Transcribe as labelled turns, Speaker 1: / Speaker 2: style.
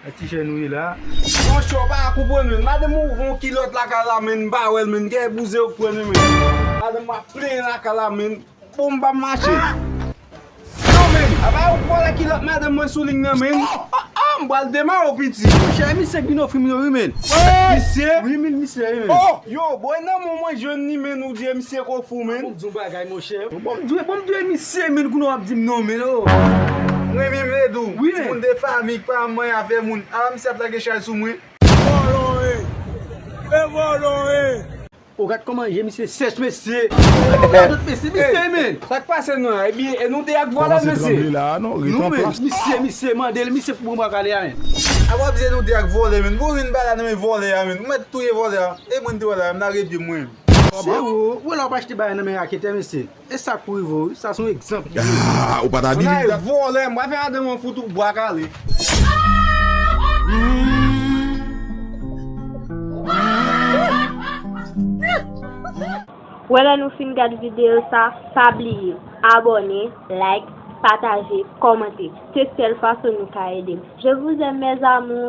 Speaker 1: Nan ti chè nou ye la. Mon chè ou pa ka
Speaker 2: konprann menm. Madanm ou ouvri yon kilòt lakay la menn m pa wè l menn gen yon bouzen ou k pran li menn. Madanm ou ap plenyen lakay la menn. Bon m pa mache. Non menn. A pa ou k vòlè kilòt madanm mwen sou ling nan menn. Oh oh oh m pral demare w piti. Mon chè misye k vin ofri
Speaker 1: m yo wi menn. Misye.
Speaker 2: 8000 misye ye menn.
Speaker 1: Oh yo bon e nan
Speaker 2: men w mwen jwenn li menn ou di e misye k ofri w menn. Fò m di w yon bagay mon.
Speaker 1: Bon m dwe bon m dwe misye menn kounye w ap di m non menn oo. M renmen
Speaker 2: Medou. Wi menn. Timoun de fanmi
Speaker 1: k pa
Speaker 2: manyen afè moun. Ala misye ap lage chay sou mwen. Vòlò e. E
Speaker 1: vòlò e. O gad kòman je misye sèch mesye. Gade radot mesye misye menn. Sa k pase nou la
Speaker 2: ebyen e nou 2 ak vòlò mesye. Komanse tranble la a non ret an plas.
Speaker 3: Misye
Speaker 1: misye mande l misye pou bon bwa kale a menn. A wap di e nou 2
Speaker 2: ak vòlè menn. Bon vin bala nan men vòlè a menn. Ou mèt touye vòlè a. E mwen m te wè la a m lage pye m mwen. Se ou ou
Speaker 1: la wap achte bagay nan men raketè mesye e sa pou rive w wi sa se yon egzanp ki pou
Speaker 3: rive w. Bagay vòlè
Speaker 2: mwen
Speaker 3: fè
Speaker 2: madanm mwen fout ou bwa kale.
Speaker 4: Wè lè nou fin gad video sa pa bliye abòne like pataje kòmante se sèl fason nou ka edem je vous aime mes amours.